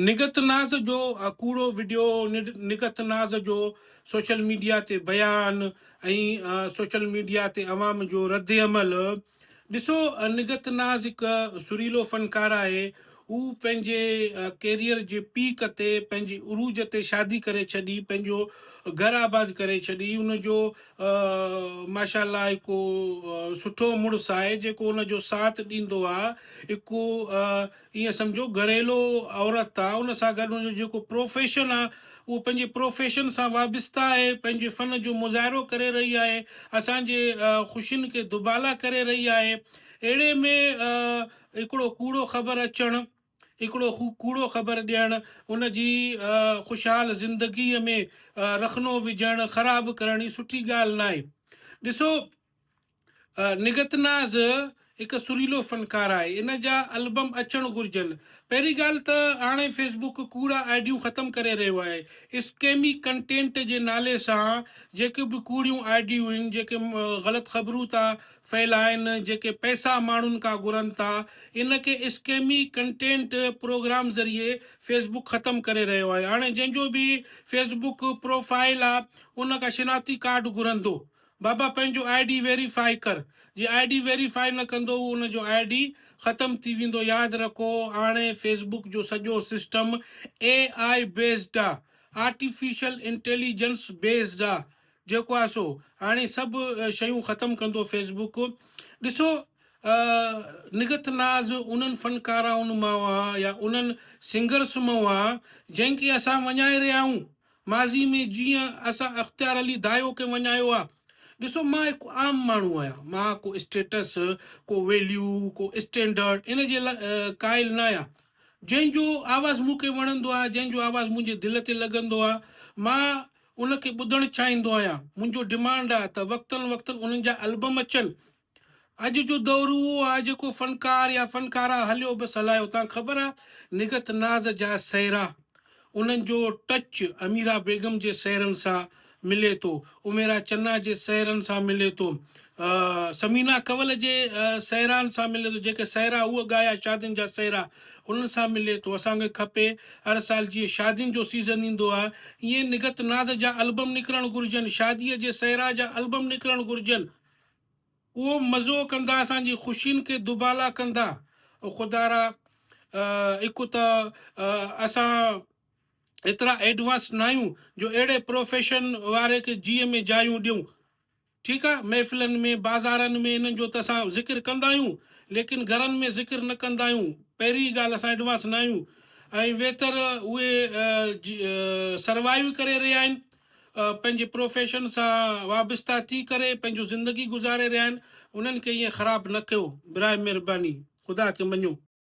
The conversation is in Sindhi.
نگهت ناز جو ڪوڙو وڊيو، نگهت ناز جو سوشل ميڊيا تي بيان ۽ سوشل ميڊيا تي عوام جو ردعمل، ڏسو نگهت ناز هڪ سريلو فنڪار آهي، هو پنهنجي ڪيريئر جي پيڪ تي پنهنجي عروج تي شادي ڪري ڇڏي، پنهنجو گهر آباد ڪري ڇڏي، ان جو ماشاء الله هڪ سٺو مڙس آهي جيڪو ان جو ساٿ ڏيندو آهي، هڪ ائين سمجهو گهريلو عورت آ ان سان گڏ ان جو جيڪو پروفيشن آ اهو پنهنجي پروفيشن سان وابسته آهي پنهنجي فن جو مظاهرو ڪري رهي آهي اسان جي خوشين کي دوبالا ڪري رهي آهي اهڙي ۾ هڪڙو ڪوڙو خبر اچڻ هڪڙو ڪوڙو خبر ڏيڻ ان جي خوشحال زندگي ۾ رخنو وجهڻ خراب ڪرڻ هي سٺي ڳالهه ناهي ڏسو نگهت ناز هڪ سريلو فنڪار آهي ان جا البم اچڻ گهرجن. پهرين ڳالهه ته هاڻي فيس بڪ ڪوڙا آئيڊيون ختم ڪري رهيو آهي اسڪيمي ڪنٽينٽ جي نالي سان جيڪي به ڪوڙيون آئيڊيون آهن جيڪي غلط خبرون ٿا ڦهلائن جيڪي پئسا ماڻهن کان گهرن ٿا ان کي اسڪيمي ڪنٽينٽ پروگرام ذريعي فيس بڪ ختم ڪري رهيو آهي هاڻي جنهن جو به فيس بڪ پروفائيل آهي ان کان شناختي ڪارڊ گهرندو بابا پنهنجو آئي ڊي ويري فاء ڪر جي آئي ڊي ويري فاء نه ڪندو هو ان جو آئي ڊي ختم ٿي ويندو ياد رکو هاڻي فيسبوڪ جو سڄو سسٽم اي آء بيسڊ آ آرٽيفيشل انٽيليجنس بيسڊ آ جيڪو آ سو هاڻي سڀ شيون ختم ڪندو فيسبوڪ ڏسو نگت ناز انهن فنڪارائن مان هئا يا انهن سنگرس مان هئا جنهن کي اسان وڃائي رهيا آهيون ماضي ۾ جيئن اسان اختيار علي دايو کي وڃايو آ. ڏسو مان هڪ عام ماڻهو آهيان، مان ڪو اسٽيٽس، ڪو ويليو، ڪو اسٽينڊرڊ ان جي قائل ناهيان. جنهن جو آواز مون کي وڻندو آهي، جنهن جو آواز منهنجي دل تي لڳندو آهي، مان ان کي ٻڌڻ چاهيندو آهيان. منهنجو ڊمانڊ آهي ته وقتن وقتن انهن جا البم اچن، اڄ جو دور اهو آهي جيڪو فنڪار يا فنڪاره هليو بس هلائي اتان خبر آ نگهت ناز جا سهرا انهن جو ٽچ اميرا بيگم جي سهرن سان ملي ٿو اميرا چنا جي سهرن سان ملي ٿو ثمينه ڪول جي سهران سان ملي ٿو جيڪي سهرا هو ڳايا شادين جا سهرا انهن سان ملي ٿو اسان کي کپي هر سال جيئن شادين جو سيزن ايندو آ ائين نگهت ناز جا البم نڪرڻ گهرجن شادي جي سهرا جا البم نڪرڻ گهرجن. اهو مزو ڪندا اسان جي خوشين کي دوبالا ڪندا او خدا را هڪ ته اسان ايترا ايڊوانس ناهيون جو اهڙي پروفيشن واري کي جيء ۾ جايون ڏيون ٺيڪ آ محفلن ۾ بازارن ۾ انهن جو ته اسان ذڪر ڪندا آهيون ليڪن گهرن ۾ ذڪر نه ڪندا آهيون پهرين ڳالهه اسان ايڊوانس ناهيون ۽ ويتر اهي سروائيو ڪري رهيا آهن پنهنجي پروفيشن سان وابسته ٿي ڪري پنهنجو زندگي گذاري رهيا آهن انهن کي ائين خراب نه ڪيو برائي مهرباني خدا کي مڃو.